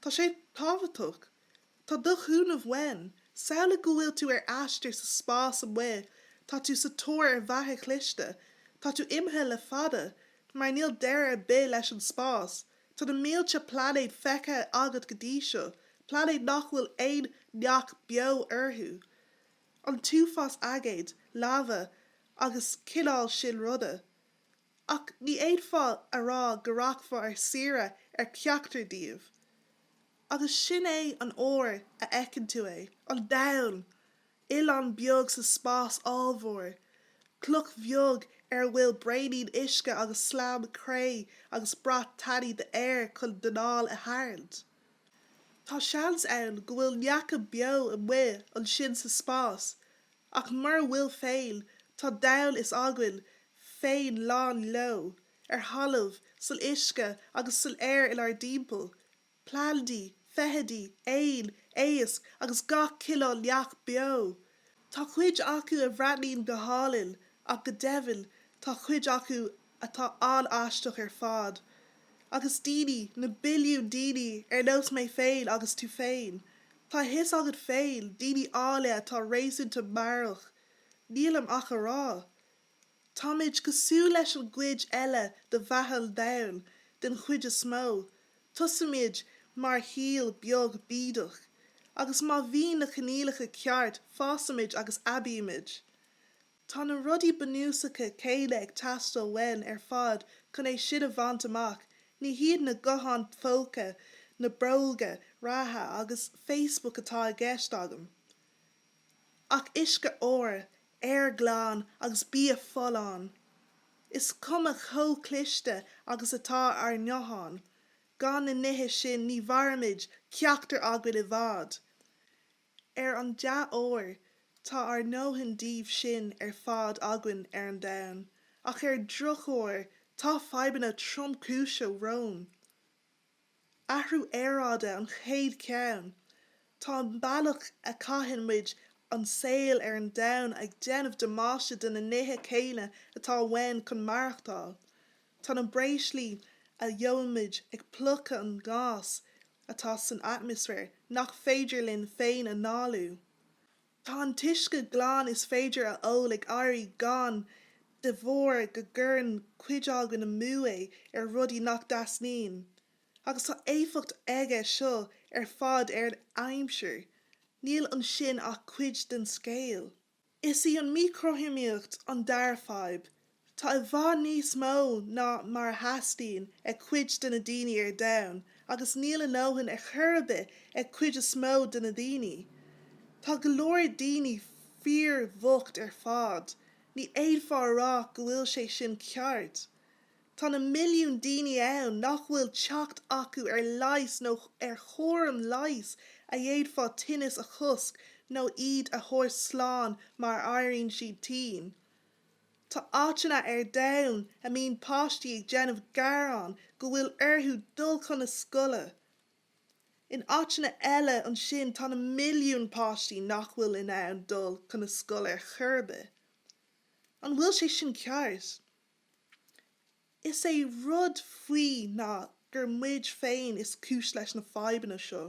Tá sé tábhachtach. Tá do chúnamh uaim. Samhlaigh go bhfuil tú ar aistear sa spás amuigh, tá tú sa tóir ar bheatha chliste. Tá tú imithe le fada, mar níl deireadh ar bith leis an spás. Tá na mílte plainéad feicthe agat go dtí seo, plainéid nach bhfuil aon neach beo orthu. An t-uafás aigéid, laibhe agus cineál sin ruda. Ach ní fhéadfá a rá go rachfá ar saoire ar cheachtar díobh. Agus sin é an uair a fheiceann tú é, an domhan! Oileán beag sa spás ollmhór. Cloch bheag ar a bhfuil braonín uisce agus slam cré agus brat tanaí d'aer chun d'anáil a tharraingt. Tá seans ann go bhfuil neacha beo amuigh ansin sa spás, Ach mura bhfuil féin, tá domhan s'againn féin lán leo, ar thalamh, san uisce agus san aer inár dtimpeall, plandaí, feithidí, éin, éisc agus gach cineál neach beo. Tá cuid acu a bhreathnaíonn go hálainn, ach go deimhin, tá cuid acu atá an-aisteach ar fad, agus daoine, na billiúin daoine, ar nós mé féin agus tú féin, tá a fhios agat féin, daoine áille atá réasúnta meabhrach, nílim ach a rá. Táimid cosúil leis an gcuid eile de bheatha an domhain, den chuid is mó, tosaímid mar shíol beag bídeach, agus má bhíonn na coinníollacha ceart fásaimid agus aibímid. Tá na rudaí bunúsacha céanna ag teastáil uainn ar fad chun é sin a bhaint amach, ní hiad na gutháin phóca, na bróga reatha agus Facebook atá i gceist agam, ach uisce úr, aer glan agus bia folláin. Is cuma chomh cliste agus atá ár ngutháin, gan na nithe sin ní mhairfimid, ceachtar againn, i bhfad. Ar an dea-uair, tá ár ndóthain díobh sin ar fad againn ar an domhan, ach ar drochuair, tá fadhbanna tromchúise romhainn. Athrú aeráide an chéad cheann. Tá an bealach a chaitheann muid an saol ar an domhan ag déanamh damáiste do na nithe céanna atá uainn chun maireachtáil. Tá na breoslaí a dhóimid ag plúchadh an gás atá san atmaisféar nach féidir linn féin a análú. Tá an t-uisce glan is féidir a ól ag éirí gann de bharr go gcuireann cuid againn amú é ar rudaí nach dteastaíonn, agus tá éifeacht aige seo ar fad ar an aimsir. Níl ansin ach cuid den scéal. Is í an mhíchothromaíocht an dara fadhb. Tá i bhfad níos mó ná mar a theastaíonn ag cuid de na daoine ar domhan, agus níl a ndóthain ar chor ar bith ag an gcuid is mó de na daoine. Tá go leor daoine fíorbhocht ar fad. Ní fhéadfá a rá go bhfuil sé sin ceart. Tá na milliúin daoine ann nach bhfuil teacht acu ar leigheas nó ar chúram leighis a d'fhéadfadh tinneas a chosc nó iad a thabhairt slán má éiríonn siad tinn. Tá áiteanna ar domhan a mbíonn páistí ag déanamh gearán go bhfuil orthu dul chun na scoile. In áiteanna eile ansin tá na milliúin páistí nach bhfuil in ann dul chun na scoile ar chor ar bith. An bhfuil sé sin ceart? Is é an rud faoi ná gur muid féin is cúis leis na fadhbanna seo,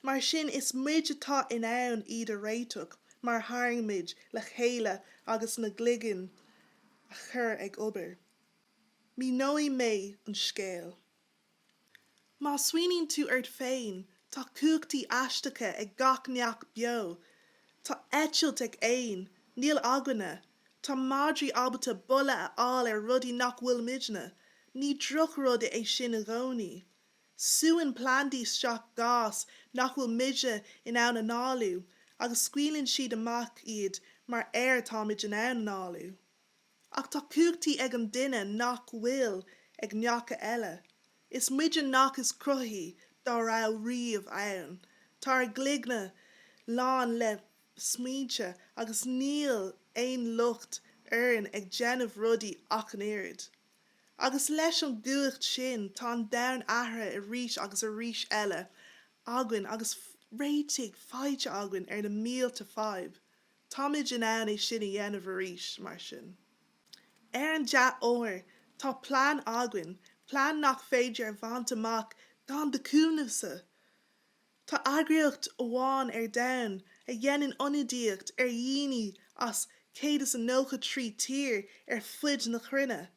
mar sin is muid atá in ann iad a réiteach má tharraingímid le chéile agus ár gcloigne a chur ag obair. Míneoidh mé an scéal. Má smaoiníonn tú ort féin, tá cumhachtaí aisteacha ag gach neach beo. Tá eitilt ag éin, níl againne. Tá madraí ábalta boladh a fháil ar rudaí nach bhfuil muidne. Ní drochrud é sin i gcónaí. Súann plandaí isteach gás nach bhfuil muide in ann análú agus scaoileann siad amach iad mar aer a táimid in ann análú. Ach tá cumhachtaí ag an duine nach bhfuil ag neacha eile. Is muide na neacha is cruthaithí dá raibh riamh ann. Tá ár gcloigne lán le smaointe agus níl aon locht orainn ag déanamh rudaí ach an oiread. Agus leis an gcumhacht sin tá an domhan athraithe arís agus arís eile againn agus réitigh faighte againn ar na mílte fadhb. Táimid in ann é sin a dhéanamh arís, mar sin. Ar an dea-uair, tá plean againn, plean nach féidir a bhaint amach gan do chúnamhsa. Tá eagraíocht amháin ar domhan a dhéanann ionadaíocht ar dhaoine as 193 tír ar fuid na cruinne.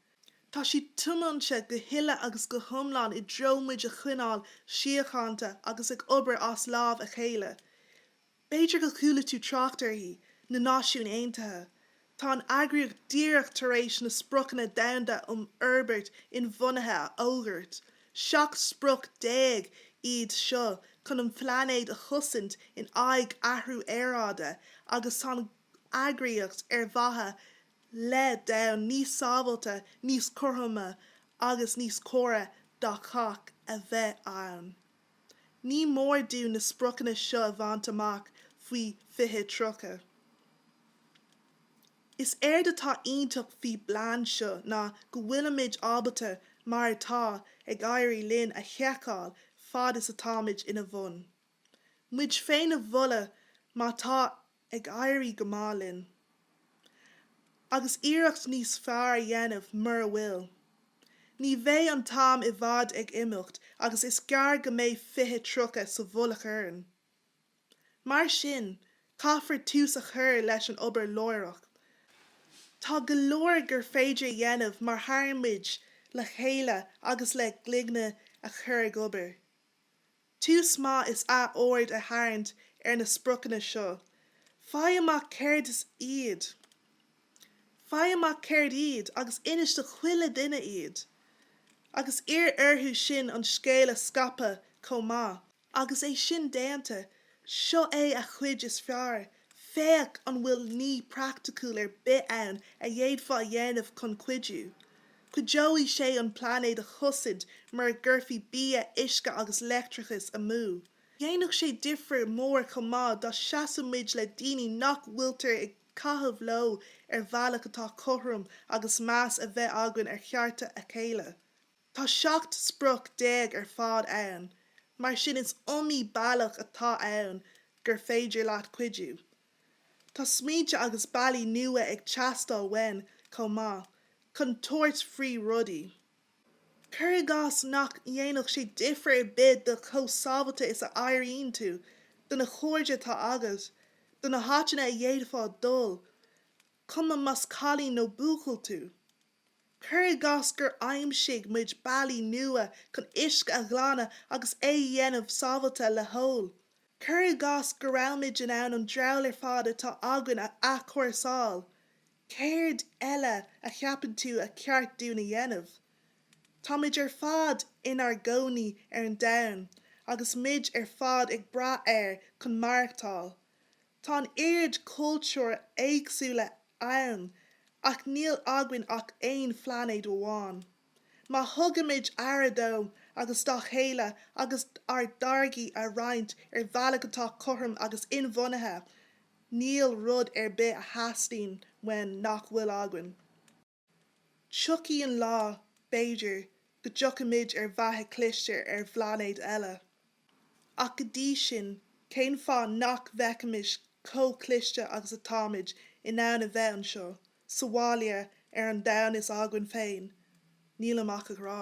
Tá siad tiomanta go huile agus go hiomlán i dtreo muid a choinneáil síochánta agus ag obair as lámh a chéile. B'fhéidir go chuala tú trácht uirthi, na Náisiúin Aontaithe. Tá an eagraíocht díreach tar éis na Spriocanna Domhanda um Fhorbairt Inbhuanaithe a fhógairt, seacht sprioc déag iad seo chun an pláinéad a chosaint in aghaidh athrú aeráide agus tá an eagraíocht ar mhaithe le domhan níos sábháilte, níos cothroime agus níos córa do chách a bheith ann. Ní mór dúinn na spriocanna seo a bhaint amach faoi 2030. Is éard atá iontach faoi bplean seo ná go bhfuilimid ábalta mar atá ag éirí linn a sheiceáil fad is atáimid ina bhun. Muid féin a mholadh má tá ag éirí go maith linn, agus iarracht níos fearr a dhéanamh mura bhfuil. Ní bheidh an t-am i bhfad ag imeacht agus is gearr go mbeidh 2030 sa mhullach orainn. Mar sin, caithfear tús a chur leis an obair láithreach. Tá go leor gur féidir a dhéanamh má tharraingíonn muid le chéile agus lena gcloigne a chur ag obair. Tús maith is ea aird a tharraingt ar na spriocanna seo. Faigh amach céard is iad. Faigh amach céard iad agus inis do chuile duine iad. Agus iarr orthu sin an scéal a scaipeadh chomh maith. Agus é sin déanta, seo é an chuid is fearr Féach an bhfuil ní praiticiúil ar bith ann a d'fhéadfá a dhéanamh chun cuidiú. Cuideoidh sé an pláinéad a chosaint mura gcuirfí bia, uisce agus leictreachas amú. Dhéanfadh sé difear mór chomh maith dá seasadh muid le daoine nach bhfuiltear ag caitheamh leo ar bhealach atá cothrom agus meas a bheith againn ar chearta a chéile. Tá 17 sprioc ar fad ann, mar sin is iomaí bealach atá ann gur féidir leat cuidiú. Tá smaointe agus bealaí nua ag teastáil uainn chomh maith, chun tabhairt faoi rudaí. Cuir i gcás nach ndéanfadh sé difir ar bith do chomh sábhailte is a airíonn tú, do na chairde atá agat, do na háiteanna a d'fhéadfá dul, cuma más cailín nó buachaill tú. Cuir i gcás gur aimsigh muid bealaí nua chun uisce a ghlanadh agus é a dhéanamh sábháilte le hól. Cuir i gcás go raibh muid in ann an dramhaíl ar fad atá againn a athchúrsáil. Céard eile a cheapann tú ba cheart dúinn a dhéanamh? Táimid ar fad inár gcónaí ar an domhan agus muid ar fad ag brath air chun maireachtáil. Tá an oiread cultúir éagsúla ann, ach níl againn ach aon phlainéad amháin. Má thugaimid aire dó agus dá chéile agus ár dtáirgí a roinnt ar bhealach atá cothrom agus inbhuanaithe, níl rud ar bith a theastaíonn uainn nach bhfuil againn. Tiocfaidh an lá, b'fhéidir, go dtiocfaimid ar bheatha cliste ar phlainéid eile. Ach go dtí sin, cén fáth nach bhfeicfimis chomh cliste agus atáimid in ann a bheith anseo sa bhaile ar an domhan is againn féin? Nílim ach ag rá.